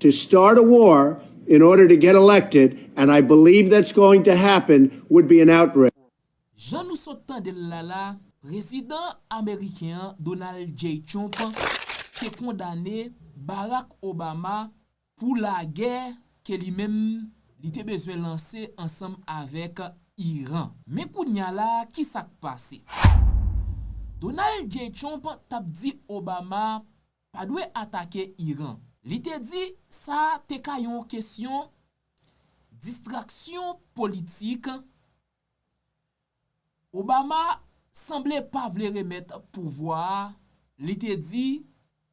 to start a war in order to get elected and I believe that's going to happen would be an outrage. Jan nou sot tande l la la, Prezidan ameriken an, Donald J. Trump, te kondane Barack Obama pou lagè ke li menm li te bezwen lanse ansanm avèk Iran. Men kounya la a kisa k pase? Donald J. Trump t ap di Obama pa dwe atake Iran. Li te di sa te ka yon kesyon distraksyon politik. Obama sanble pa vle remèt pouvwa a, li te di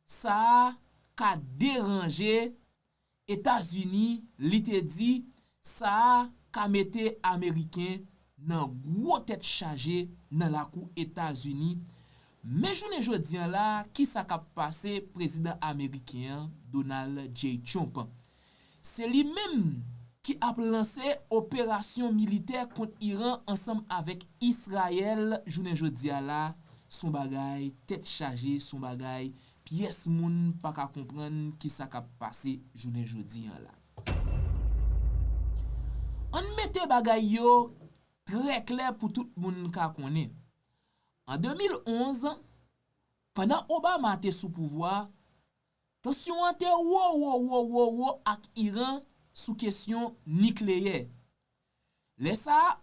sa ka deranje Etazini li te di sa a ka mete ameriken nan gwo tèt chaje nan lakou Etazini, men jounen jodi an la kisa kap pase prezidan ameriken an Donald J. Trump. Se li menm ki ap lanse operasyon militè kont Iran ansanm avèk Israel jounen jodi a la son bagay tèt chaje son bagay Pyès moun pa ka konprann ki sa k ap pase jounen jodi an la. An n mete bagay yo trè klè pou tout moun ka konnen. An 2011, pandan Obama te sou pouvwa, tansyon an te wo wo wo wo wo ak Iran sou kesyon nikleyè. Lè sa a,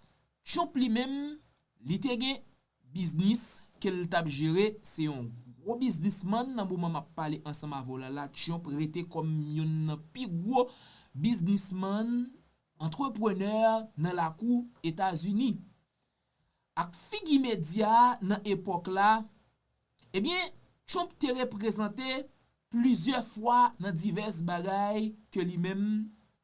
Trump li menm, li te gen biznis ke l t ap jere, se yon gwo biznisman nan moman m ap pale ansanm avè w la la, Trump rete kòm youn nan pi gwo biznisman, antreprenè nan lakou Etazini. Ak figi medya a nan epòk la, ebyen, Trump te reprezante plizyè fwa nan divès bagay ke li menm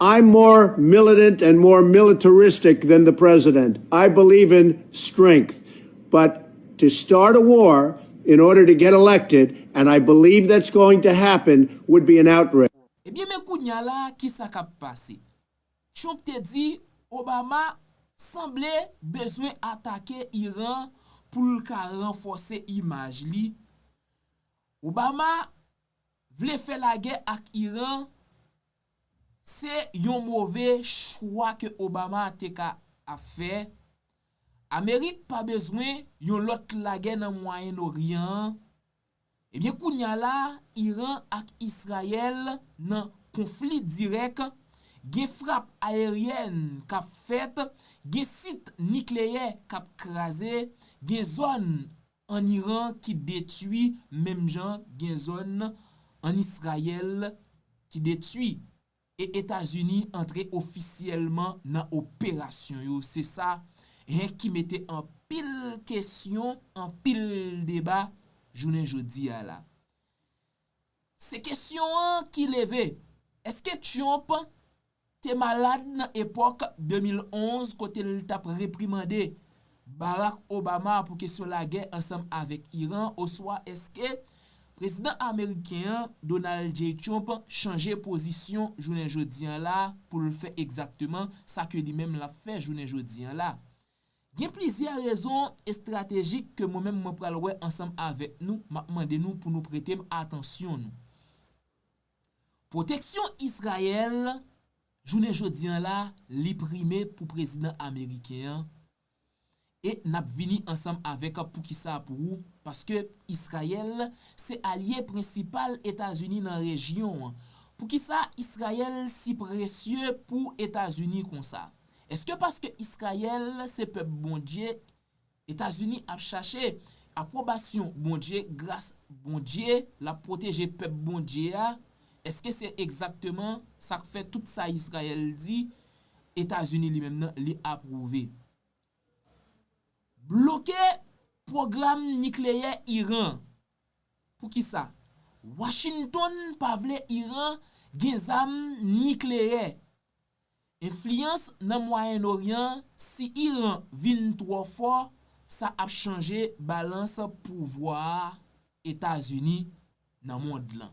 I'm more militant and more militaristic than the president. I believe in strength. But to start a war in order to get elected, and I believe that's going to happen, would be an outrage. Ebyen men kounya la kisa kap pase? Trump te di Obama sanble bezwen atake Iran pou l ka ranfòse imaj li. Obama vle fè lagè ak Iran. Se yon move chwa ke Obama te ka ap fè. Amerik pa bezwen yon lòt lagè nan Mwayen Noryan an. Ebyen kounya la Iran ak Israel nan konfli dirèk, gen frap aeryèn k ap fèt, gen sit nikleyè k ap kraze, gen zòn an Iran ki detwi menm jan gen zòn an Israyèl ki detwi e Etazini antre ofisyèlman nan operasyon yo se sa hen ki mete anpil kesyon anpil deba jounen jodi a la. Se kesyon an ki leve, eske Trump te malad nan epòk 2011 kote l t ap reprimande Barack Obama pou kesyon lagè ansanm avèk Iran oswa eske Prezidan ameriken an, Donald J. Trump, chanje pozisyon jounen jodi an la pou l fè egzakteman sa ke li menm l ap fè jounen jodi an la? Gen plizyè rezon estratejik ke mwen menm mwen pral wè ansanm avèk nou map mande nou pou nou pretem atansyon nou. Pwoteksyon Israel jounen jodi an la li prime pou prezidan ameriken an e nap vini ansanm avèk poukisa pou ou paske Israel se alye prensipal Etazini nan rejyon an. Poukisa Israel si presye pou Etazini konsa? Eske paske Israel se pèp Bondye Etazini ap chache apwobasyon Bondye gras Bondye lap pwoteje pèp Bondye a eske se egzakteman sak fè tout sa Israel di Etazini li menm nan li apwouve bloke pwogram nikleyè Iran poukisa Washington pa vle Iran gen zam nikleyè Enfliyans nan Mwayen Oryan Si Iran vin twò fò, sa ap chanje balans pouvwa Etazini nan mond lan.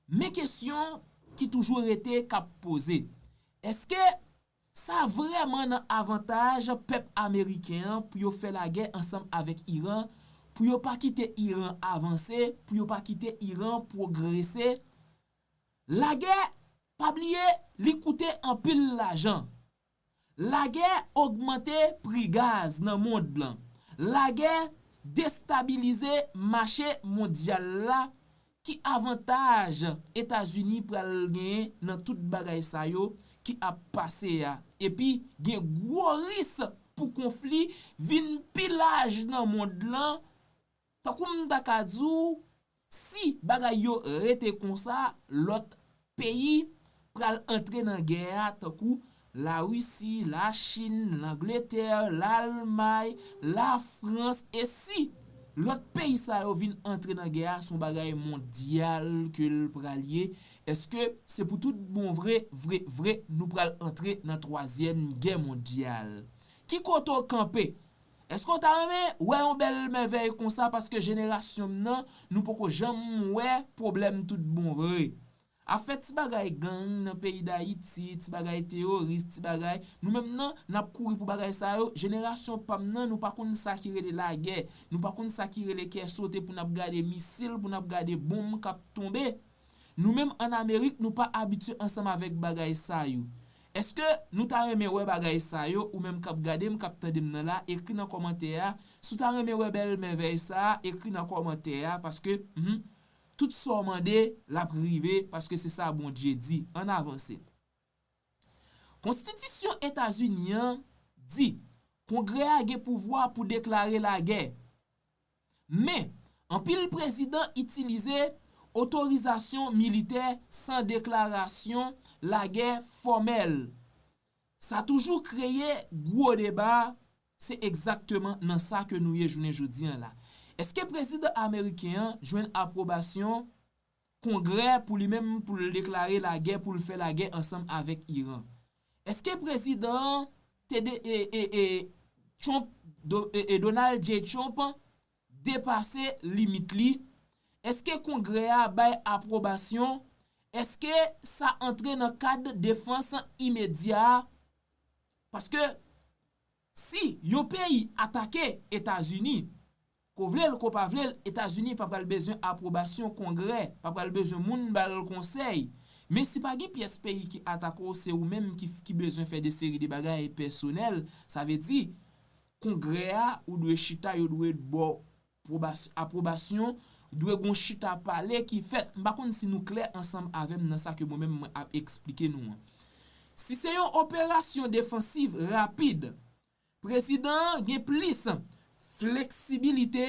Men kesyon ki toujou rete k ap poze, èske sa vrèman nan avantaj pèp ameriken an pou yo fè lagè ansanm avèk Iran, pou yo pa kite Iran avanse, pou yo pa kite Iran pwogrese? Lagè Pa bliye li koute anpil lajan. Lagè ogmante pri gaz nan mond lan. Lagè destabilize mache mondyal la ki avantaj Etazini pral genyen nan tout bagay sa yo ki ap pase a epi gen gwo ris pou konfli vin pi laj nan mond lan Tankou m ta ka di w, si bagay yo rete konsa, lòt peyi pral antre nan gè a tankou, Larisi, Lachin, Langletè, Lalmay, Lafrans e si lòt peyi sa yo vin antre nan gè a, s on bagay mondyal ke l pral ye, èske se pou tout bon vre, vre, vre nou pral antre nan twazyèm gè mondyal? Ki kote w kanpe Èske w ta renmen wè yon bèl mèvèy konsa paske jenerasyon m nan nou poko janm wè pwoblèm tout bon vre. Afè ti bagay gang nan peyi Dayiti, ti bagay teyoris, ti bagay, nou menm nan n ap kouri pou bagay sa yo, jenerasyon pa m nan nou pa konn sa ki rele lagè, nou pa konn sa ki rele kè sote pou n ap gade misil, pou n ap gade bonm k ap tonbe. Nou menm an Amerik nou pa abitye ansanm avèk bagay sa yo. Eske nou ta renmen wè bagay sa yo ou menm kap gadem kap tandem nan la ekri nan kòmantè a si w ta renmen wè bèl mèvèy sa ekri nan kòmantè a paske humm tout sa w mande lap rive paske se sa Bondye di ann avanse Konstitisyon Etazini an di Kongrè a gen pouvwa pou deklare lagè. Men, anpil prezidan itilize otorizasyon militè san deklarasyon lagè fòmèl. Sa toujou kreye gwo deba, se egzakteman nan sa ke nou ye jounen jodi an la. Eske prezidan ameriken an jwenn apwobasyon Kongrè pou li menm pou l deklare lagè pou l fè lagè ansanm avèk Iran. Eske prezidan an te de e e e Trump do e e Donald J. Trump depase limit li? Eske Kongrè a bay apwobasyon? Eske sa antre nan kad defans imedya a? Paske si yon peyi atake Etazini, Ko vle l ko pa vle l, Etazini pa pral bezwen apwobasyon Kongrè, pa pral bezwen moun ba l konsèy. Men si pa gen pyès peyi ki atake w se ou menm ki ki bezwen fè de seri de bagay pèsonèl, sa vle di Kongrè a ou dwe chita yo dwe ba w pwobas apwobasyon, dwe gon chita pale ki fèt. M pa konn si nou klè ansanm avè m nan sa ke mwen menm mwen ap esplike nou an. Si se yon operasyon defansiv rapid, Prezidan an gen plis fleksibilite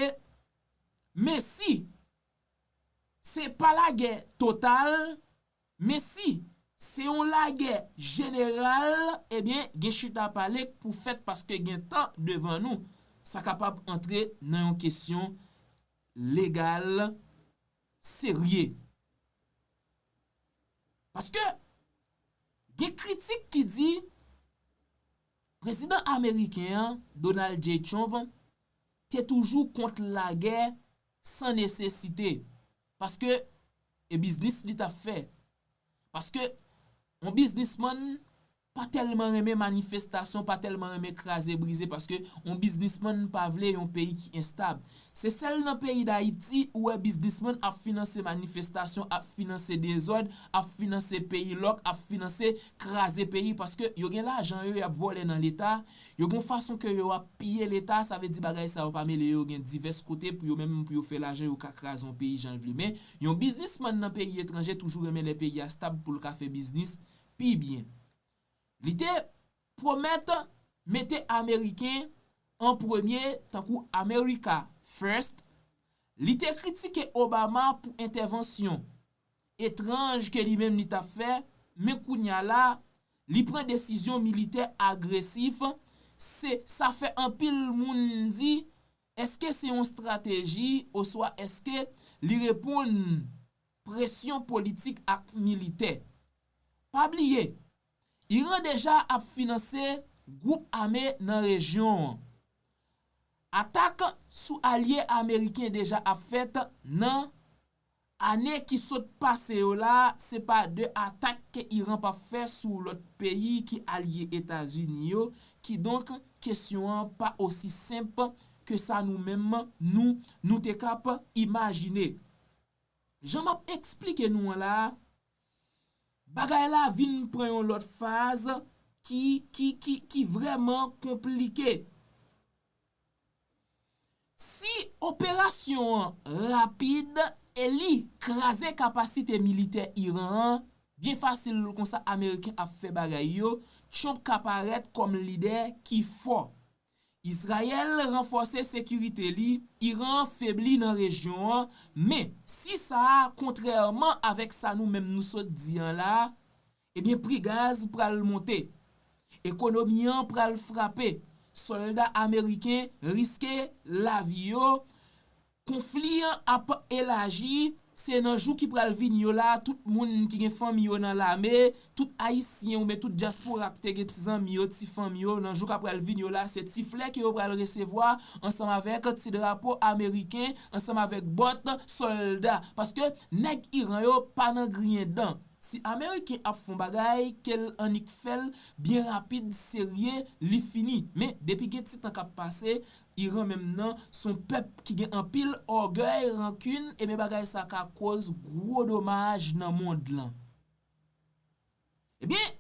men si se pa lagè total men si se yon lagè jeneral ebyen gen chita pale k pou fèt paske gen tan devan nou sa kapab antre nan yon kesyon legal serye. Paske gen kritik ki di. Prezidan ameriken an, Donald J. Trump, te toujou kont lagè san nesesite, paske e biznis li t ap fè. Paske yon biznismann pa tèlman renmen manifestasyon, pa tèlman renmen kraze brize, paske yon biznismann pa vle yon peyi ki enstab. Se sèl nan peyi dayiti ou wè biznisman ap finanse manifestasyon ap finanse dezòd ap finanse peyi lòk ap finanse kraze peyi paske yo gen lajan yo yap vòlè nan leta yo gon fason ke yo ap piye leta sa vle di bagay sa yo pa mele yo gen divès kote pou yo menm pou yo fè lajan yo ka kraze yon peyi janl vle men yon biznisman nan peyi etranje toujou renmen lè peyi a stab poul ka fè biznis pi byen li te Pwomèt mete Ameriken an premye tankou America First, li te kritike Obama pou entèvansyon etranj ke li menm li tap fè, men kounya la li pran desizyon militè agresif, se sa fè anpil moun di eske se yon strateji oswa eske li reponn presyon politik ak militè. Pa bliye Iran deja ap finanse gwoup ame nan rejyon an. Atak sou alye ameriken deja ap fèt nan Ane ki sot pase yo la se pa de atak ke Iran pap fè sou lòt peyi ki alye Etazini yo kidonk kesyon an pa osi senp ke sa nou menm nou nou te kap imajine. Jan map esplike nou an la a, Bagay la vin pran yon lòt faz ki, ki, ki, ki vrèman konplike. Si operasyon an rapid e li kraze kapasite militè Iran an, byen fasil konsa ameriken ap fè bagay yo, Trump ka parèt kòm lidè ki fò. Izrayèl ranfòse sekirite li, Iran an febli nan rejyon an, men, si sa a kontrèman avèk sa nou menm nou sot di an la, ebyen pri gaz pral monte, ekonomi an pral frape, sòlda ameriken riske lavi yo, Konfli an ap elaji, se nan jou ki pral vini yo la tout moun ki gen fanmi yo nan lame, tout ayisyen oubyen tout dyaspora ki te gen ti zanmi yo, ti fanmi yo nan jou k ap pral vini yo la se ti flè ke yo pral resevwa ansanm avèk ti drapo ameriken ansanm avèk bòt sòlda paske nèg Iran yo pa nan griyen dan si ameriken ap fon bagay ke l annik fè l byen rapid serye li fini men depi gen ti tan k ap pase Iran menm nan son pèp ki gen anpil ògèy, rankin, ebyen bagay sa ka koz gwo domaj nan mond lan. Ebyen,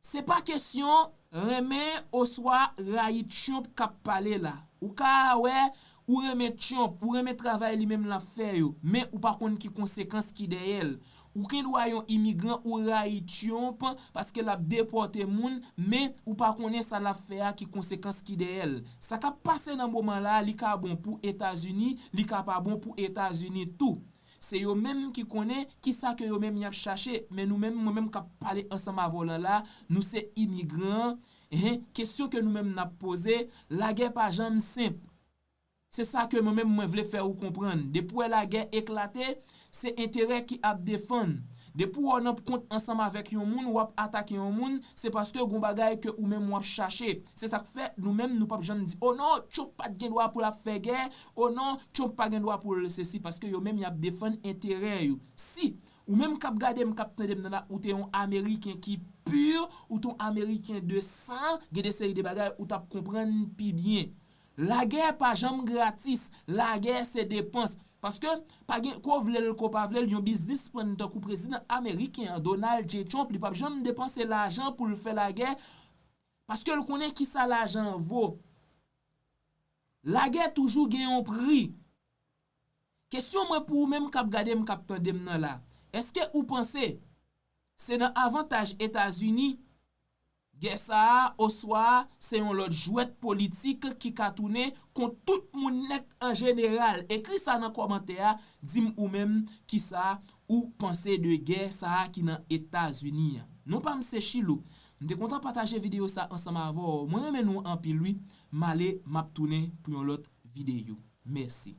se pa kesyon renmen oswa rayi Trump k ap pale la. Ou ka wè ou renmen Trump, ou renmen travay li menm l ap fè yo, men ou pa konn ki konsekans ki dèyè l. Ou gen dwa yon imigran ou rayi tyonp paske lap depòte moun men ou pa konnen sa lap fè a ki konsekans ki dèyèl. Sa kap pase nan moman la li ka bon pou etazini li ka pa bon pou etazini tou. Se yo menm ki konnen kisa ke yo menm yap chache men nou menm mwen menm kap pale ansanm avè w lan la nou se imigran hein kesyon ke nou menm nap poze lagè pa janm senp. Se sa ke mwen menm mwen vle fè ou konprann. Depi wè lagè eklate, se enterè ki ap defann. Depi wè w nan kont ansanm avèk yon moun, w ap atake yon moun, se paske gon bagay ke ou menm w ap chache. Se sa k fè nou menm nou p ap janm di, o non, Trump pa t gen dwa pou l ap fè gè, o non, Trump pa gen dwa pou l sesi, paske yo menm y ap defann enterè yo. Si, ou menm k ap gade m, k ap tande m nan la, ou te yon Ameriken ki pur, ou te yon Ameriken de san, gen de seri de bagay ou t ap konprann pi byen. Lagè pa janm gratis, lagè se depans. Paske, pa gen, ko vle l, ko pa vle l, yon biznisman tankou prezidan ameriken an, Donald J. Trump, li pa p janm depanse lajan pou l fè lagè, paske l konnen ki sa lajan an vo. Lagè toujou gen yon pri. Kesyon mwen pou ou menm k ap gade m, k ap tande m nan la, èske ou panse se nan avantaj Etazini Gè sa a, oswa a, se yon lòt jwèt politik ki ka tounen kont tout moun nèt an jeneral. Ekri sa nan kòmantè a, di m ou menm ki sa ou panse de gè sa a ki nan Etazini an. Non pa m se Chilou. M te kontan pataje videyo sa ansanm avè w. Mwen renmen nou anpil wi. M ale m ap tounen pou yon lòt videyo. Mèsi.